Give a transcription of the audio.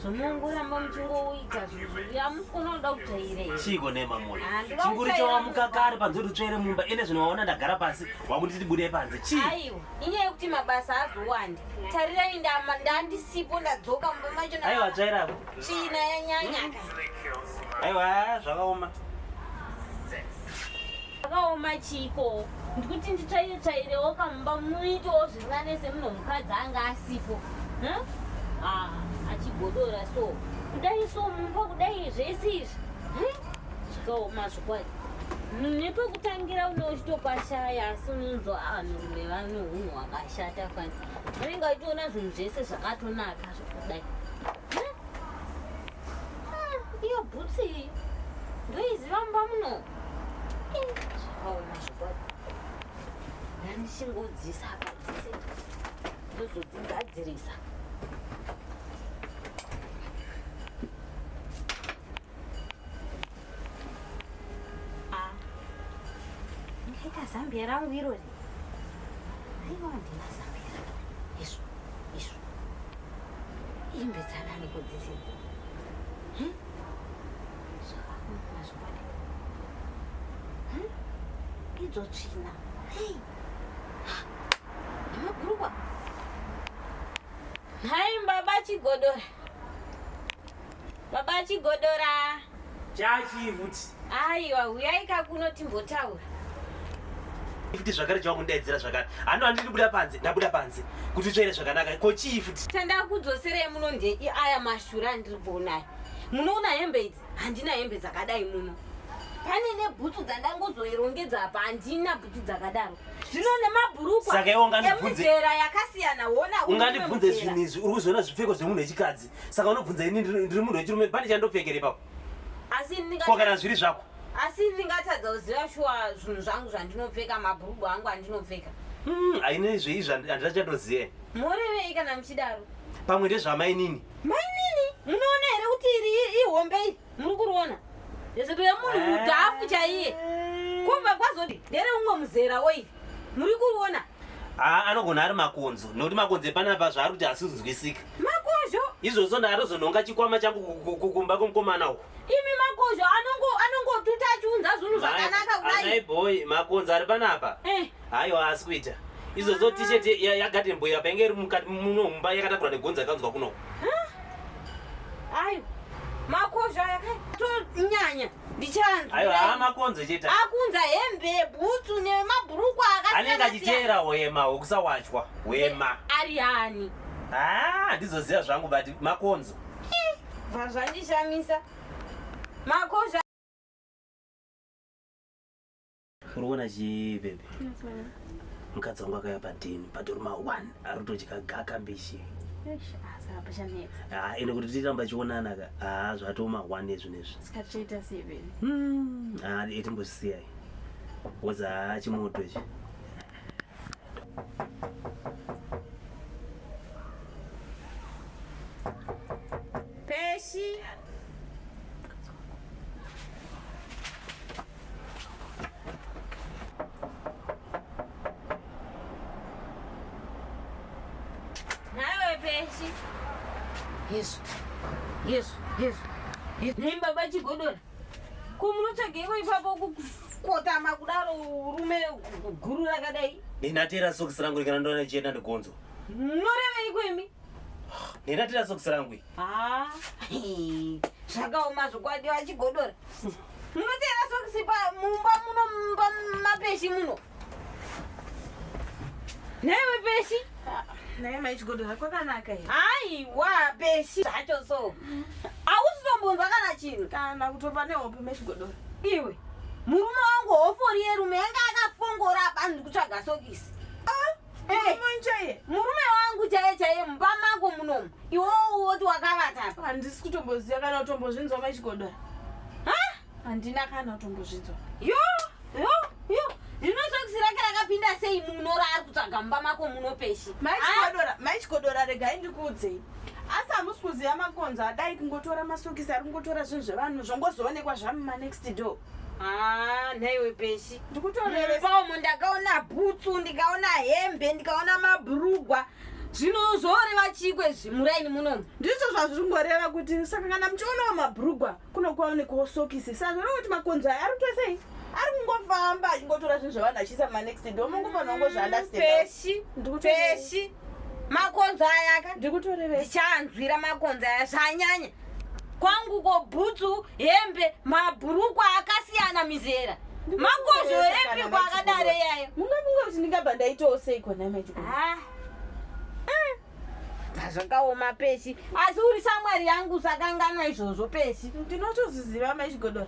zvomongoramba muchingoita zviamusikuona kuda kujaire chiiko nemamoyo chinguri chawamuka kare panze kuti utsvere mumba ine zvino waona ndagara pasi wakunditi tibude panze chii aiwa inyaya yekuti mabasa azowandi tarirai ndandisipo ndadzoka mumba macho aiwa tsvairapo China yanyanya ka. Aiwa zvakaoma. Zvakaoma chiko. Ndikuti nditsvaire tsvairewo kamumba munoitawo zvinganese muno mukadzi anga asipo. Huh? Ah, achigodora so. Kudai so mumba kudai zvese izvi. Huh? Zvakaoma zvikwadi. Nepekutangira uno uchitopashaya asi unonzwa vanhurume vano hunhu hwakashata fani. Vanenge vachitoona zvinhu zvese zvakatonaka. kudai ah, iyo bhutsi iyi ndoiziva mba muno zvakaoma zvokwadi ndandichingodzisa apa dzese ndozodzigadzirisa Ah. Ndikaita zambia rangu irori. Aiwa ndina zambia rangu. Yesu. Yesu. Imbedzana nekudzisi. Hmm? Zvakakumana zvokwadi. Hmm? Idzo tsvina. Hey. Nemakurukwa. Hai mbaba chigodora. Baba Chigodora. Chachi futi. Aiwa, huyai kakuno timbotaura. Futi zvakare chava kundaidzira zvakare. Hano handidi kubuda panze, ndabuda panze. Kuti utsvaire zvakanaka. Ko chii futi? Tanda kudzoserei muno nde aya mashura andiri kuonai. Munoona hembe idzi? Handina hembe dzakadai muno. Pane nebhutsu dzandangozoirongedza apa handina bhutsu dzakadaro. Zvino nemabhurukwa emuzera yakasiyana wona. Ungandibvunze zvinhu izvi, uri kuzoona zvipfeko zvemunhu wechikadzi. saka unobvunza ini ndiri munhu wechirume pane chandopfekere ipapo ko kana zviri zvako asi ndingatadza kuziva shuwa zvinhu zvangu zvandinopfeka mabhurugu angu andinopfeka hmm, haina izveizvi handina chatoziva morevei kana muchidaro pamwe ndezvamainini mainini munoona here kuti iri ihombe iri muri kuriona rezeto yemunhu mudhafu chaiye eh. kumva kwazoti ndere umwe muzera oiri muri kuriona haa anogona ari makonzo nokuti makonzo epanapa zvaari kuti asizunzwisika makozho izvozvo ndaatozonhonga chikwama changu ku- ku- ku- kumba kwemukomana uku imi makozho anongo- anongotuta achiunza zvinhu zvakanaka anai kudai boy makonzo ari panapa Eh, hayo haasi kuita izvozvo t-shirt ya- yagarden boy apa inge iri mukati muno mumba yakatakura negonzo yakanzwa kuno ayo makozho aya kai tonyanya ndichanzwa ayo haa makonzo chete akunza hembe bhutsu nemabhurukwa akaanenge achiteera hwema hwekusawachwa hwema ari ani haa ah, ndizoziva zvangu but makonzo eh, bva zvandishamisa makonzo uri kuona chii bebe mukadzi wangu akaya padhini patori ma one ari kutodya gaka mbishi ah, ende kuti tiramba chionana ka haa ah, zvatoma one ezvi nezvi etimbosiyai woza haa chimoto ichi peshi Yesu, Yesu, Yesu, Yesu. Nei baba chigodora kumunotsvageiko ipapo kukotama kudaro urume guru rakadai ndinatera sokisi rangu rikana ndona chienda ndigonzo norevei kwemi ndinatera sokisi rangu zvakaoma zvokwadi vachigodora Munoteera sokisi mumba muno mumba mapeshi muno. Newe peshi. Naye maichigodo hako kanaka here? Hayi wa peshi zvacho so. Ausizombonzwa kana chinhu. Kana kutopa nehope mechigodo. Iwe. Murume wangu hofori yerume yanga akafongora apa ndikutsvaga sokisi. Ah. Hey, murume wangu chaiye chaiye mumba mako munomu iwowo woti wakavata apa handisi kutomboziva kana kutombozvinzwa machigodora handina kana kutombozvinzwa yo yo yo rinosokusira kira rakapinda sei muno raari kutsvaga mumba mako muno peshi maichigodora ah! regai ndikuudzei asi hamusi kuziva makonzo adai kungotora masokisi ari kungotora zvinhu zvevanhu zvongozoonekwa zvamumanext door Haa nhaiwe peshi ndikutorerepaomo ndakaona bhutsu ndikaona hembe ndikaona mabrugwa zvino zvoreva chikwe zvimuraini munomu ndizvo zvazvingoreva kuti saka kana muchionawo mabrugwa kunokuwaonekawo sokisi sazvino kuti makonzo aya ari tosei ari kungofamba achingotora zvinhu zvavanhu achiisa manext do mungofanira kungozviandaspeshi ndikupeshi makonzo ayaka ndikutorevechanzwira makonzo aya zvanyanya kwangu ko bhutsu hembe mabhurukwa akasiyana mizera makozho epi kwakadaro iyayo mungafunga kuti ndingabva ndaitawo sei kona maichiko Ah. Ah. zvakaoma pesi asi uri shamwari yangu usakanganwa izvozvo pesi ndinotozviziva maichigodora